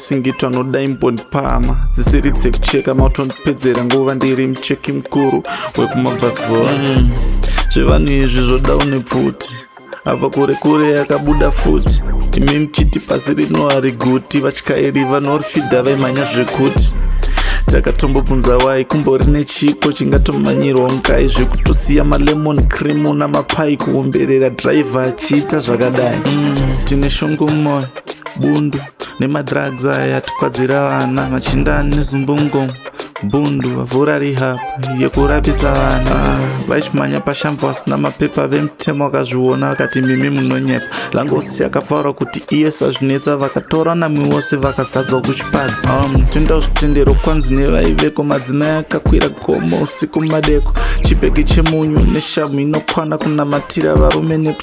singitwa noda imbondipama dzisiri dzekucheka mautondipedzera nguva ndiri mucheki mukuru wekumabvazuva mm. zvevanhu izvi zvoda une pfuti apa kure kure yakabuda futi imi muchiti pasi rino hari guti vatyairi vanorifidha vaimhanya zvekuti takatombobvunza wai kumbori nechipo chingatomanyirwa mukai zvekutosiya malemon cream namapai kuomberera driver achiita zvakadai mm, tine shungu mumoyo bundu nemadrugs aya tikwadzira vana machinda nezumbungo bundu vavhura rehab yekurapisa vana vachimhanya pashambo vasina mapepa vemutemo vakazviona vakati mimi munonyepa langosi yakafaura kuti iye sazvinetsa vakatora nami vose vakasadzwa kuchipadzi um, toenda zvitendero kwanzi nevaiveko madzimai akakwira gomo usiku madeko chibheki chemunyu neshamu inokwana kunamatira varume neku